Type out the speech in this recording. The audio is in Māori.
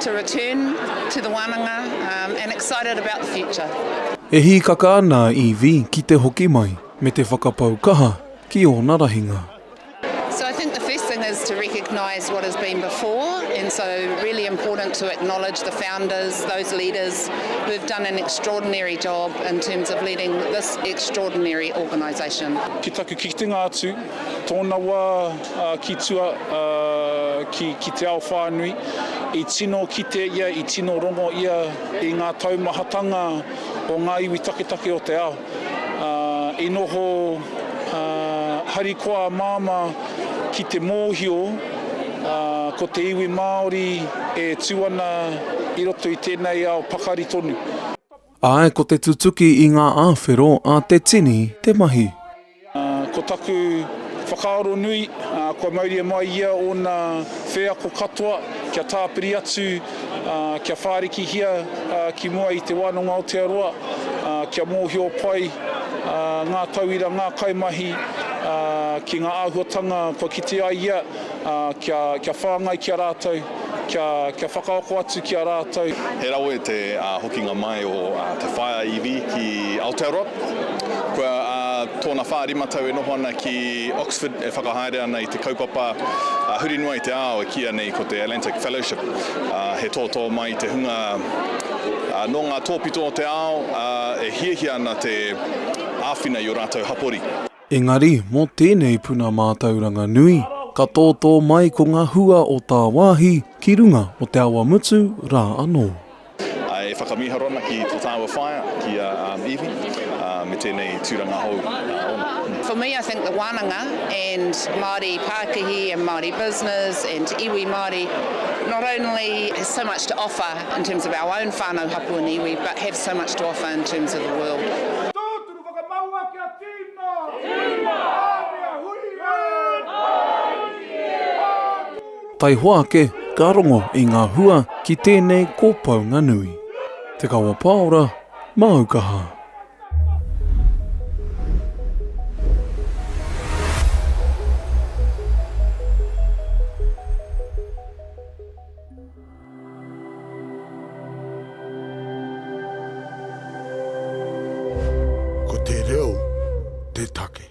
to return to the wananga and excited about the future. E hīkaka ana a Evie ki te hoki mai me te whakapau kaha ki ōna rahinga. So I think the first thing is to recognise what has been before and so really important to acknowledge the founders, those leaders who have done an extraordinary job in terms of leading this extraordinary organisation. Ki taku kitenga atu, tōna wā, ki tua, ki te ao whānui. I tino kite ia, i tino rongo ia i ngā taumahatanga o ngā iwi taketake o te ao. I noho harikoa a Māmā ki te mōhio ko te iwi Māori e tū ana i roto i tēnei ao pakari tonu. Āe, ko te tutuki i ngā āwhero a te tini te mahi. Ko taku whakaaro nui, kua mauria mai ia ōna wheako katoa kia tāpiri atu, kia whārikihia ki mua i Te Wānanga Aotearoa, kia mōhio pai ngā tauira, ngā kaimahi ki ngā āhuatanga kua kite ai ia. Ā, kia, kia whāngai ki a rātou, kia, kia whakaako atu ki a rātou. He rawe te hokinga mai o Te Whaea Iwi ki Aotearoa. Kua tōna whā rima tau e noho ana ki Oxford e whakahaere ana i te kaupapa huri noa i te ao e kīia nei ko te Atlantic Fellowship. He tōtō mai te hunga nō ngā tōpito o te ao e hiahia ana te āwhina i ō rātou hapori. Engari, mō tēnei puna mātauranga nui, ka tōtō mai ko ngā hua o tāwāhi ki runga o Te Awamutu rā anō. E whakamīharo ana ki tō tāua whaea, ki a Evie, me tēnei tūranga hou ōna. For me I think the wānanga and Māori pākihi and Māori business and iwi Māori not only has so much to offer in terms of our own whānau hapū and iwi but have so much to offer in terms of the world. Te whakamau a Kia tīna! Tīna! Āmia hui e! Taihoa ake ka rongo i ngā hua ki tēnei kōpaunga nui. Te Kawa Paora, māu kaha. Ko te reo te take.